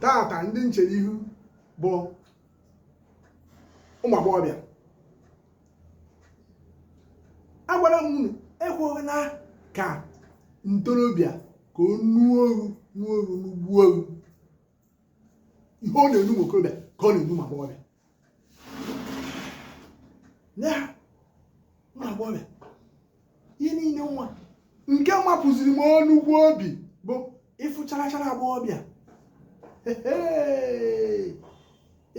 tata ndị m chere ihu bụ ụmụ agbọghọbịa agwara m unu ekweghị na ka ntorobịa ka o nuo oru nuo oru n'ugbu oru ihe ọ na-enu ụmụ okorobịa ka ọ na-enu ụmụ agbọghọbịa na-agbanwe ihe niile nwa nke mapụziri m ọnụgwu obi bụ ịfụ charachara agbọghọbịa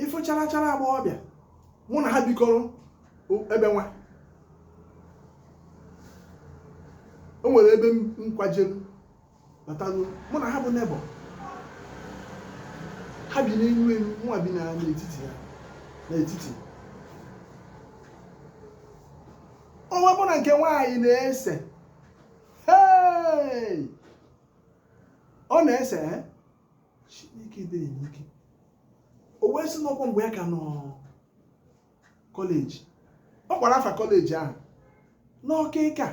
ịfụ charachara agbọghọbịa mụ na ha bikọrọ ebe nwa o nwere ebe m kwajelu batanụ mụ na ha bụ neighbour ha bi n'elu elu nwa bi na n'etiti ya n'etiti ọ gwa mụ na nke nwaanyị na-ese hey! ọ na-ese eh? Chineke dị enye ike o wee sị na ọkwa mgbe ya ka nọ college ọ kpọrọ afa college ahụ n'ọkịka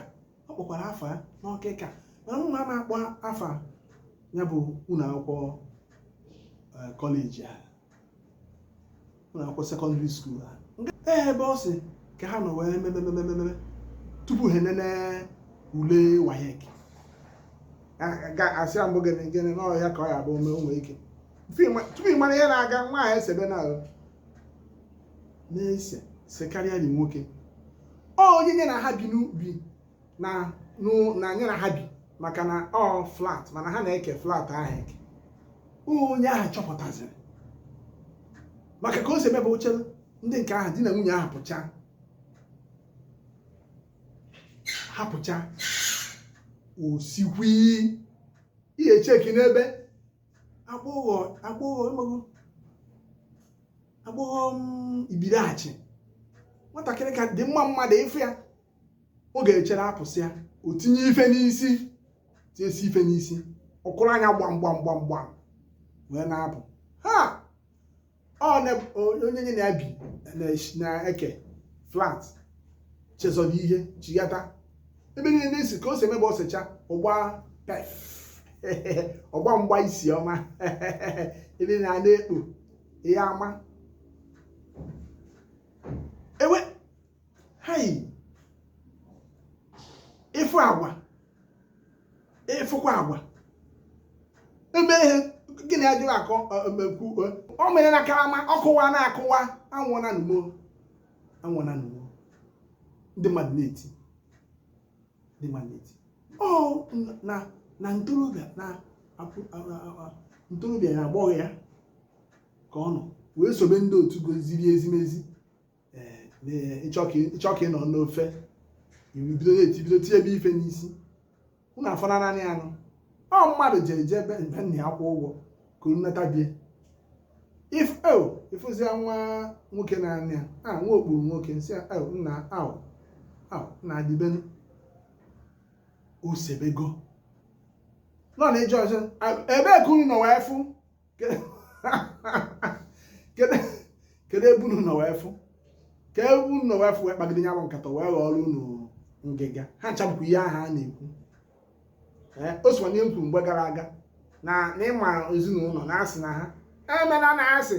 ọ kpọkwara afa ya n'ọkịka mana mụ ama akpọ afa ya bụ ụlọ akwụkwọ eh, college a ụlọ akwụkwọ secondary school a Nke- ee ebe ọ sị ka ha nọ wee memememememe tupu ha enene ule WAEC asị ya mbụ gịnị gịnị n'ọhịa ka ọ ya bụ ome onwe ike Tupu ị ma- tupu ị mara ihe na-aga nwa ahụ esebe na na-ese sekarịarị nwoke ọ onye nye na ha bi n'ubi na na nye na ha bi maka na ọ flat mana ha na-eke flat ahụ eke onye ahụ chọpụtaziri maka ka o si eme bụ o chere ndị nke ahụ di na nwunye ahụ pụcha ha pụcha osikwi ihe cheki n'ebe agbọghọ agbọghọ amaghị agbọghọ mm, ibiriachi nwatakịrị ka dị mma mmadụ ị fụ ya ọ ga-echere apụsịa o tinye ife n'isi tinyesi ife n'isi ọ kụrụ anya gbam gbam gbam gbam wee na-apụ ha onye nye na ha bi na-eke flat chezọrọ ihe chighata ebe niile na-esi ka o si eme bụ o secha ọ gbaa perf ọ gbaa mgba isi ọma ebe na ana-ekpo ihe ama ewe hai ị fụ agwa ị fụkwa agwa eme ihe gị na ya jụrụ akọ emekwu o mere na karama ọkụwa na-akụwa anwụọna nụ m o anwụọna nụ m o ndị mmadụ na-eti ndị mmadụ na-eti ọ na na ntorobịa na ntorobịa ya agbọghọ ya ka ọ nọ wee sobe ndị otu goziri ezimezi eh, ị chọọ ka ị nọ n'ofe ibido etibido tinyebe ife n'isi unu afọna naanị anụ ọ mmadụ ji eje ebe mgbe nna ya kwụ ụgwọ ka unu nata bie ị fụzia oh, nwa nwoke naanị ya a ah, nwa okpuru nwoke nsị ya oh, nna ahụ ahụ na adịbenu osebego nọ na ịjụ ọzọ ebee ka unu nọ wee fụ kedu ebe unu nọ wee fụ kee ebe unu nọ wee fụ wee kpagide ya bụ nkata wee ghọọrọ unu ngịga ha nchapụkwa ihe ahụ a na-ekwu eh, o sokwa n'ihe m kwuru mgbe gara aga na ịma ezinụlọ na-asị na ha emela na asị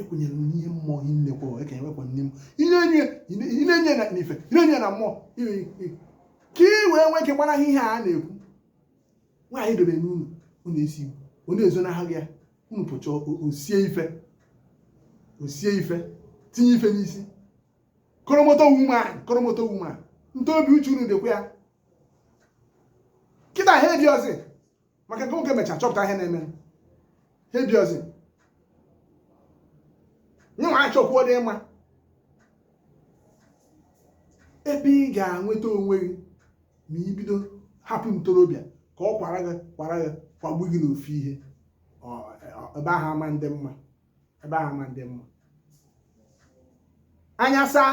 ekwenyere m n'ihe mmụọ ihe nnekwa ekenye wepụ nne m inenye na ife inenye na mmụọ ka ị wee nwee ike gbara ihe a na-ekwu nwaanyị dobe n'ụlọ unu esi ọ na-ezo n'ahụ ya unu pụcha o sie ife o sie ife tinye ife n'isi koromoto wuman koromoto wuman ntobi uche unu dịkwa ya kịta ha eji ọzọ maka nke nwoke mechaa chọpụta ihe na-eme ha ebiozi nye nwa achọkwuo dị mma ebe ị ga-enweta onwe gị ma i bido hapụ ntorobịa ka ọ kwara gị kwara gị kwagbu gị n'ofu ihe ebe ahụ ama ndị mma ebe ahụ ama ndị mma anya saa